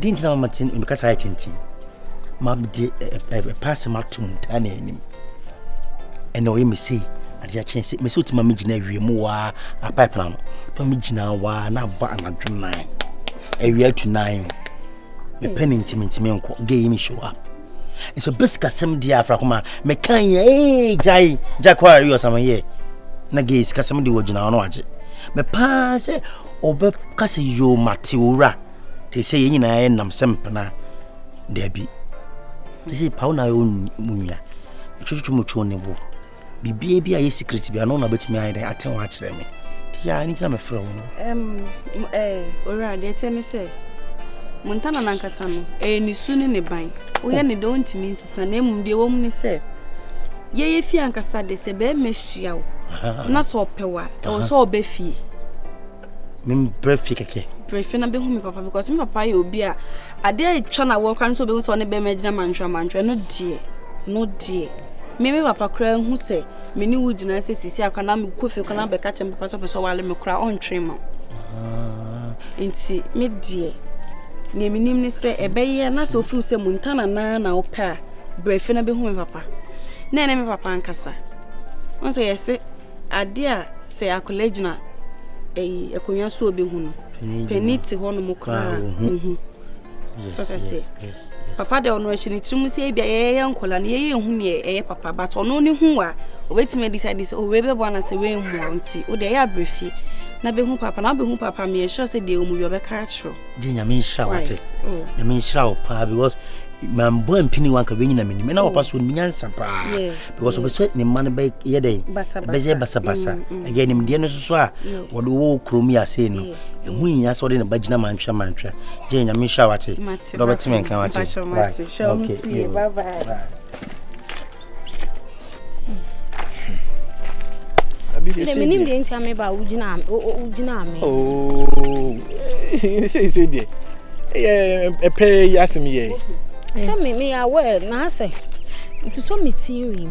Dɛn nti na mama te me kasa ayɛ tenten? Mabɛde ɛpɛ asɛm ato mu taa na anim. Ɛna ɔyɛ me sei, adeɛ akyɛn sɛ mesɛ wotumi ma megyina awie mu waa apaepa no na megyina waa na abɔ anadwo nan awia atu nan mepɛ ne ntimi ntimi nkɔ gɛyi me show up nso basic asɛm deɛ afra koma meka yɛ ee gyae gyae kɔ a ɛyɛ ɔsama yɛ na gɛyi sikasɛm de wɔgyina hɔ no agye mepaa sɛ Ɔbɛka sɛ, Yoo, mate owura. Te sɛ yɛn nyinaa yɛ nam sɛ mpena. Dabi. Te sɛ pawo na ayɛ mu nua. Ɛtwetwetwe mu twɛn ne bo. Biribiara bi a yɛ secret bi ano na ɔbɛtumi ayɛ dɛ ate ho akyerɛ me. Te yɛ a, ne ti na mefrɛ wo no. Ɛm, ɛɛ, owura, deɛ ɛteɛ ne sɛ, Montana nankasa no, ɛyɛ ne su ne ne ban. Woyɛ ne dɛ, ɔntumi nsisi. nyansa na mmom deɛ ɛwɔ mu ne sɛ yɛyɛ fie ankasa de sɛ bɛrima hyia wo na sɛ ɔpɛ wo a ɛwɔ sɛ ɔbɛ fie mempɛ fie kɛkɛ pɛ fie na bɛhu me papa because me papa yɛ obi a adeɛ atwa na wɔ kora no sɛ ɔbɛhu sɛ ɔne bɛrima gyina mantwerɛ mantwerɛ no deɛ no deɛ me me papa koraa hu sɛ me ne wo gyina sɛ sisi akora na mekɔ fie kora na bɛka kyɛ me papa sɛ ɔpɛ sɛ ɔwale me koraa ɔntwere ma Enti me deɛ, nea menim ne sɛ ɛbɛyɛ na sɛ ofil sɛ Montana naa na wopɛ a brɛ fie na bɛhu me papa na ɛne me papa nkasa ɔn sɛ yɛse ade a sɛ akwadaa gyina ɛyi akonnwa so ɔbɛhu no pani te hɔ nom koraa ɔhu so sɛ papa de ɔno ahyɛ ne tirim sɛ ebia yɛyɛ nkɔla no yɛyɛ ehu neɛ ɛyɛ papa but ɔno ne hu wa obetumi adisa de sɛ owe bɛbɔ ana sɛ wei mmoa nti o deɛ ɛyɛ abirifie na bɛhu papa na wobɛhu papa mi yɛhyerɛ sɛ deɛ ɔmu yɛ ɔbɛka akyerɛ gye nyame nhyira wate oh. nyame nhyira wo paa because mambɔ ampini wanka bɛnyina menim ɛna papa so nim nyansa paa because ɔpɛ sɛ ne mma no bɛyɛ dɛn bɛyɛ basabasa mm, mm. ɛyɛ nimdeɛ no soso a wɔde wɔ kurom yi ase no ɛho nyina sɛ ɔde ne ba gyina mantwɛ mantwɛ gye nyame nhyira wate mate dɔ bɛte me nka wate hwɛ ɔmo sie bye bye menim deɛ ntia me ba wogyinaa me seisei deɛ ɛpɛ yi asɛm yɛ sɛ meyɛ awɛ na asɛ nso me tirim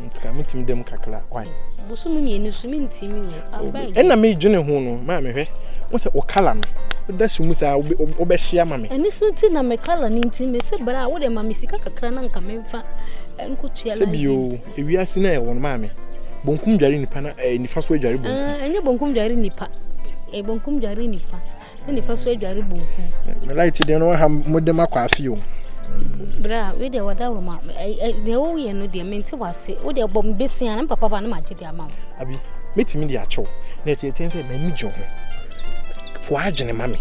nti ka metumi da mu kakra why bosom mmienu so mentumi abeg ɛna medwene ho no maa mehwɛ wo sɛ wo kala no woda so mu saa wobɛhyia ma me ɛne so nti na me kala no nti mese bra a wode ma me sika kakra na nka memfa nkɔtua sɛ bio ewiase no ɛwɔ no maa me bonkum dware nipa na eh, nifa so adware bonkum ah, ɛnyɛ bonkum dware nipa eh, bonkum dware nipa ne nifa so adware bonku. Me light deɛ no ha mo de ma kwafi o. Bra, we deɛ wɔda wɔ ma deɛ wo yɛ no deɛ mente wase. Wo deɛ bɔ mbesi an papa ba no ma gye deɛ ama wo. Abi, metumi de akyɛw. Na ɛte ɛte sɛ m'ani gye ho. Fo adwene ma me.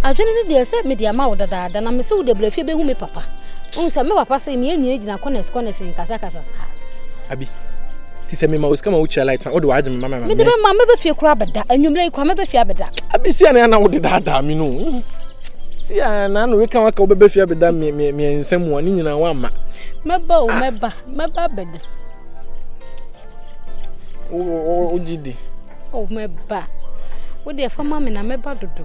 Adwene ne deɛ sɛ me deɛ ama wo dadaada na me se wo deɛ brɛ fie bɛhu me papa. Wo sɛ me papa se me nyina gyina kɔnɛs kɔnɛs nkasa kasa saa. Abi, Ti sɛ mema osika ma wokyia light na wode w'adwene mema mema me. Mede bɛma mɛbɛ fie koraa bɛda anwummerɛ yi koraa mɛbɛ fie abɛda. Abi si anaa na wode daadaa me no. Si anaa na weka waka wobɛbɛ fie abɛda mmiɛnsa mu a ne nyinaa woamma. Mɛba o mɛba mɛba abɛda. Wogye di. O mɛba. Wode ɛfa ma me na mɛba dodo.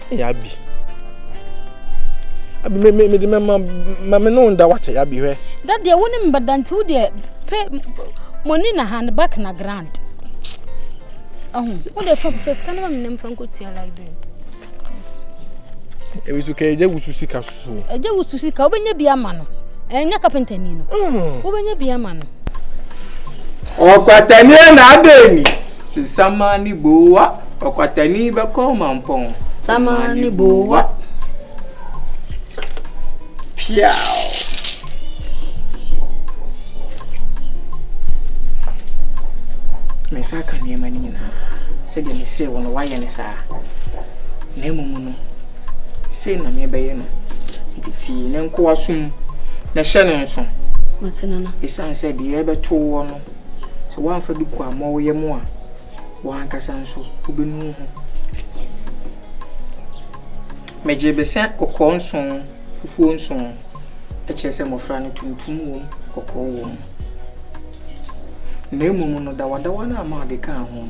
Ɛyɛ abi. Abi me me me de mɛma ma me no nda wate abi hwɛ. Da deɛ wo ne me bɛda nti wo deɛ pɛ mɔni na hand back na grand. Ɛho wo deɛ fam fɛ sika no ma me nam fa nkotua library. Ebi so kɛgye wusu sika so. Ɛgye wo su sika, wobɛnya bi ama no. Ɛnyɛ kapentani no, wobɛnya bi ama no. Ɔkwatani yɛ n'adani. Sɛ samaa ne boowa. Ɔkwatani bɛkɔ ɔmampɔn. Samaa ne boowa. Piaw. Me nsa aka nneɛma no nyinaa sɛdeɛ mesee wo no woayɛ ne saa na mmom no Sei na mebɛyɛ no, enti tie ne nkoa som, na hyɛ no nso. Mate, Nana. Esiane sɛ deɛ ɛbɛto woɔ no, sɛ woamfa bi kuammɔ wo yam a, wo ankasa nso wobɛnu ho. Megye besea kɔkɔɔ nson, fufuo nson, ɛkyerɛ sɛ mmɔfra no tuntum wom, kɔkɔɔ wom. Na mmom nnodawadawa no a Maud kaa ho no,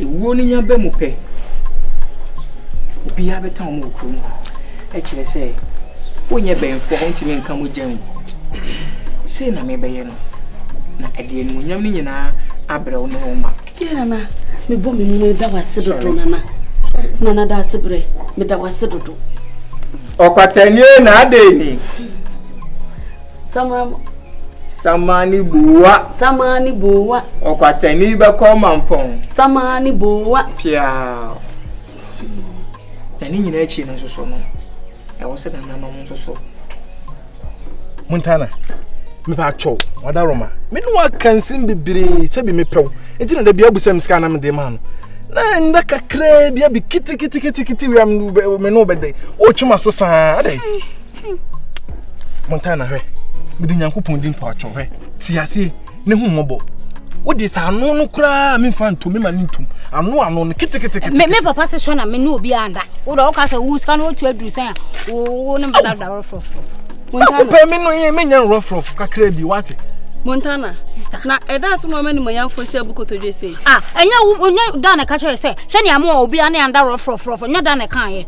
Ewuo no nya ba mu pɛ, obiara bɛtan wɔn wɔ kurom hɔ. Ɛkyerɛ sɛ, wonyɛ bɛnfoɔ a wontumi nka mogya ngu. Sei na mebɛyɛ no, na ɛde animuonyam no nyinaa abrɛ wo ne wo mma. Deɛ nana, mebɔ me mu meda wo ase dodo nana. Nana da ase brɛ, meda wo ase dodo. Ɔkwatani na adɛn ni? Samara mu. Sama ne bowa. Sama ne bowa. Ɔkwatani bɛkɔ mampɔn. Sama ne bowa. Piaa. Na ne nyinaa akyi no nso so no, ɛwɔ sɛ nananom nso so. Montana, mepɛ atwɔ, wada Roma. Me ne waka nsɛm bebree sɛ bi mepɛw. Nti na da bi abu sɛ msika na mede ma no. Na nda kakraa bi abi kiti kiti kiti kiti wia me ne wobɛdɛ. Wotwe ma so saa adɛn? montana hwɛ mede nyankopɔn di mpaatwɔ hwɛ te aseɛ ne hu mmɔbɔ wode sɛ ano no koraa memfa ntom mema no ntom ano ano no ketekete me papa se sɔ na me ne obi anda wode woka sɛ wo sika no wotu aduru sɛn a wo ne mbadabda worɔforɔforɔ akopɛ me no yɛ menya nworɔforɔfo kakra bi wate Montana. Sister. Na ɛda so ma ɔma nimonyamfo sɛ bu kotodwe sei. Ah, ɛnyɛ wo nyɛ da na ɛka kyerɛ sɛ sɛnea mo a obi ane anda rɔforɔforɔfo nyɛ da na ɛka yɛ.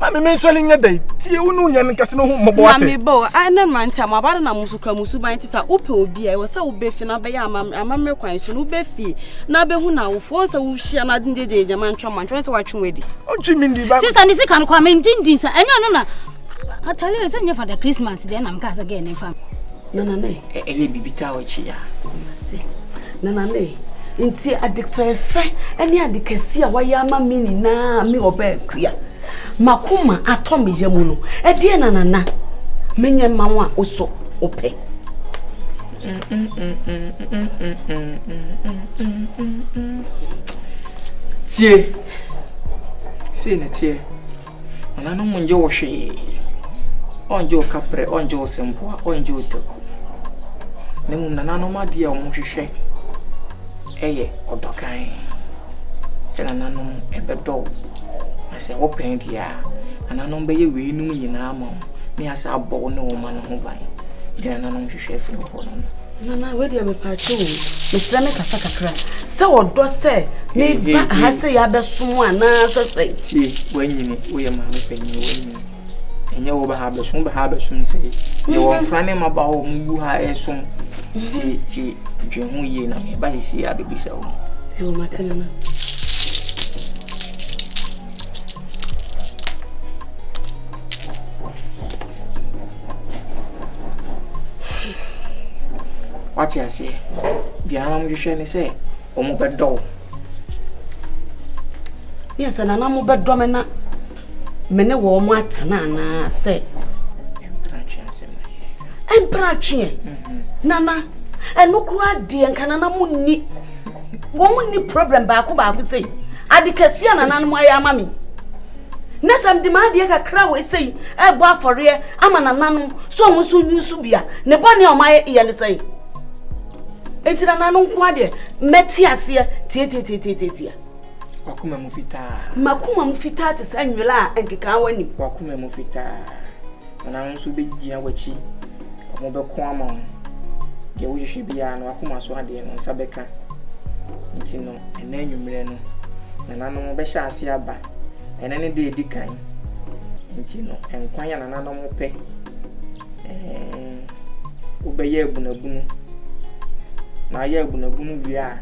ma me mensɔre nyɛ dɛn tie wo ne wo nyame kɛse no ho mmɔbɔ ate na mebɔ ɛnɛ mmerante a mo abada na mo so kura mo suban te sɛ wopɛ obi a ɛwɔ sɛ wobɛfi na wobɛyɛ amammerɛ kwan so no wobɛfi na wobɛhu no awofoɔ sɛ wohyia no ade gyegye gyama ntwa ma ntwa sɛ watwe wadi ɔntwe me ndi ba sisa ne sika no kwa mengye ndi sa ɛnyɛ no na atale sɛ nyɛ fada christmas deɛ nam ka sɛ gɛ ne fa Nanane. Ɛyɛ biribi taa wɔ akyi a. Mate. Nanane. Nti ade fɛɛfɛ ne ade kɛse a wayɛ ama me nyinaa me ɔbaa kua. Makoma atɔ me yɛ mu no. Ɛdeɛ na nana. Menyɛ ma wo a wosɔ wopɛ. Tie. Sei na teɛ. Ɔna no mu ngye wo hwee. Ɔngye wo kaprɛ, ɔngye wo sempoa, ɔngye wo taku. Na mmom nananom adeɛ a wɔn hwehwɛ ɛyɛ ɔdɔ kann. Sɛ nananom ɛbɛdɔ wo. Na sɛ wo pɛn deɛ a, nananom bɛyɛ wei nom nyinaa ama wo. Ne asɛ abɔ wo ne wo mma no ho ban. Deɛ nananom hwehwɛ ɛfiri wo hɔ no no. Nana wei deɛ mepaakyɛ o mesrɛ me kasa kakra sɛ ɔdɔ sɛ meba ha sɛ yɛabɛsom anaasɛ sɛ tie woanyini woyɛ maame panyin woanyini ɛnyɛ wo baha bɛsom baha bɛsom sɛ yɛ wɔn fra ne ma ba hɔ mu wu ha ɛsom tie tie dwe ho yie na meba sisi a bɛbisa wo ɛwɔ mate nana Wate aseɛ? Deɛ na wɔhwehwɛ ne sɛ wɔbɛdɔ wo. Yɛ sɛ nana mobɛdɔ me na me ne wɔn mo atena anaa sɛ ɛmpra atweɛ nana ɛno koraa deɛ nka nana mo nni wɔn mu ni problem baako baako sɛ yi ade kɛseɛ a nananom ayɛ ama me na sɛ mede m'adeɛ kakra wɔ sɛ yi ɛbɔ afɔreɛ ama nananom so wɔn nso nyi so bia ne bɔne a wɔn ayɛ yɛ ne sɛ eti nananom nko adeɛ mɛte aseɛ tietietietietia. wakoma mu fitaa. makoma mu fitaa te sɛ nwera a nkekaawa nim. wakoma mu fitaa. Anaa wɔn nso wɔbɛgyina w'akyi, wɔbɛko ama wo. Deɛ wohwehwɛ biara no, w'akoma so adeɛ no, wo nsa bɛka. Nti no, ɛnnɛ anwummerɛ no, nananom bɛhyɛ aseɛ aba. Ɛnnɛ ne da a ɛdi kan. Nti no, nkwan a nananom pɛ, ɛɛn, wobɛyɛ abunabunu. Na woayɛ abunabunu wie a,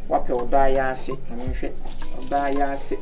woapɛ ɔdɔ ayaase. Maame nhwɛ, ɔdɔ ayaase.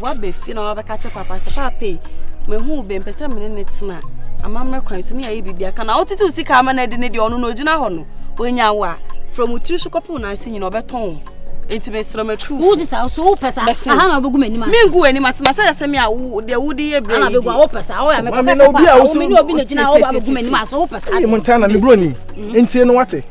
Woaba fie na wabɛka kyɛ papa sɛ papa yi mahu wo bɛmpɛ sɛ mene ne tena amammerɛ kwan so ne yɛayɛ biribi aka na wotete wo sika ama no adi ne deɛ ɔno na ɔgyina hɔ no ɔnya wo a frɛ mu tiri so kɔpem naase nyina ɔbɛtɔn wo nti mesrɛ matru wo sista so wo pɛ saa aha na wobɛgu m'anim ase mengu w'anim ase na sɛ yɛ sɛ me a wo deɛ wode yɛ berɛ yi deɛ wo pɛ saa woyɛ mekɔka sɛ papa wo mene obi na gyina wo ba bɛgu m'anim ase wo pɛ saa deɛ mo ntana mebrɛ nim ntie no wate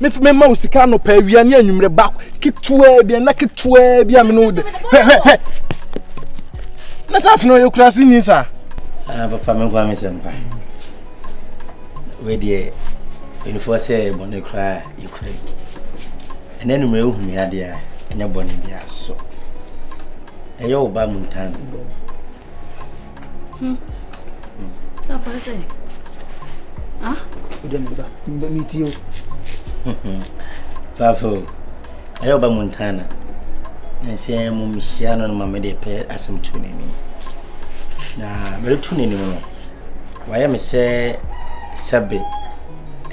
me fi me ma wo sika anɔpa awia ne anwummerɛ ba ketewaa bi ɛna ketewaa bi a me ne wo de hwɛ hwɛ hwɛ na sɛ afei na ɔyɛ kurase ni saa ah, papa me nkoa me sɛ mpa wedeɛ anifoɔ sɛ bɔne koraa yɛkura yi ɛna anwummerɛ wohu me adeɛ a ɛnyɛ bɔne biara so ɛyɛ wo ba mu ntam Hmm. Tá bom, Zé. Hã? Podia me dar. Me mentiu. Papo, eu ba Montana. Nse é mo mishia no ma me de pé asem tu ne ni. Na me tu ne ni no. Wa ya me se sabe.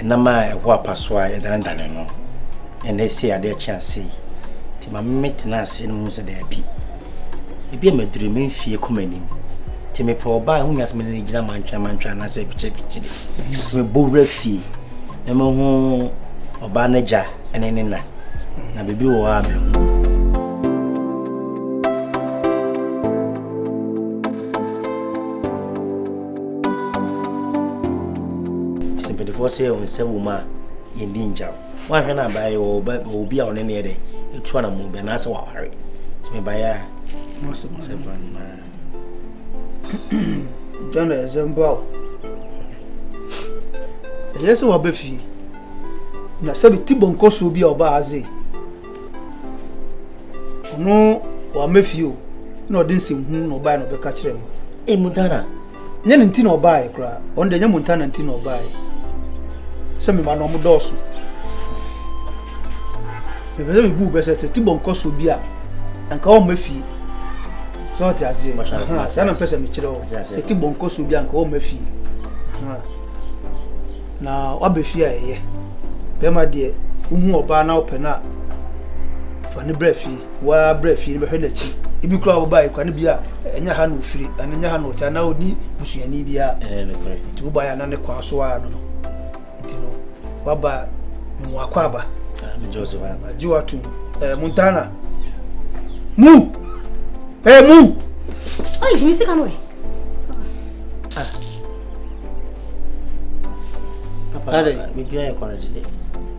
Na ma é ho apaso a é dan dan no. Ene se ade chance. Ti ma me tena ase no se de bi. Ebi a maduru me mfie kɔ m'anim nti mepɛ ɔbaa ɛho nya sɛ mene no gyina mantwamantwa anaasɛ abikyɛbikyere nti mebɔ wura fie na mahu ɔbaa no agya ne ne na na biribi wɔ hɔ a mehu sɛ mpanimfoɔ sɛ wɔn nsa wɔ mu a yɛndi ngyaw Woanhwɛ no a baeɛ wɔ ɔba wɔ obi a ɔne ne yɛ dɛ ɛtu anamɔ bi anaasɛ waware nti mebaeɛ a mose mo sɛ bra no John ɛsɛ mboa wo ɛyɛ sɛ waba fie na sɛ bi ti bɔnkɔ so bi a ɔba adze ɔno wama fie o na ɔde nsɛmhu na ɔbae na ɔbɛka kyerɛ no ɛmu dana Nyɛ ne nti na ɔbaeɛ koraa. Ɔno deɛ nyɛ Montana nti na ɔbaeɛ. Sɛ mema no ɔmo dɔɔso. Mepɛ sɛ mebu bɛ sɛ sɛ tibɔ nkɔ so bi a anka ɔmma fie. Sɛ ɔte aseɛ. Saa na mpɛ sɛ mekyerɛ wo. Sɛ tibɔ nkɔ so bi a anka ɔmma fie. Na wabɛ fie a ɛyɛ. Bɛrima deɛ wohu ɔbaa na wopɛ no a fa ne brɛ fie. Woara bra fie no bɛhwɛ n'akyi. Ebi koraa wobae koraa no bi a ɛnyɛ ha na ofiri anaa ɛnyɛ ha na ɔte anaa ɔni busuani bi a. Nti wobae a na ne kwan so ara no no. Nti no waba na mu akɔ aba. Gye watom. Eh, Montana. Mu! Eh, mu! Ɔyɛ dwumi sika no ɛ. Papa, biribiara yɛ kɔrɛgye dɛ.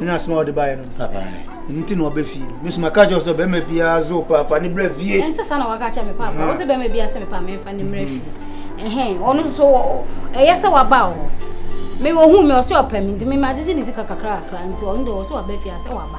ɛna asɛm a wɔde baeɛ no ɛno nti na wɔbɛ fie me so maka kyerɛ sɛ bɛrima biara zo pa fa ne berɛ fie ɛnsɛ saa na waka kyerɛ me paapa wo sɛ bɛrima biara sɛ mepa memfa ne mmerɛ fie ɛhɛn ɔno nso ɛyɛ sɛ waba wɔ hɔ me ɔhu me ɔsɛ ɔpɛ me nti memagyegye ne sika kakra kakra nti ɔno deɛ ɔsɛ waba fie a sɛ waba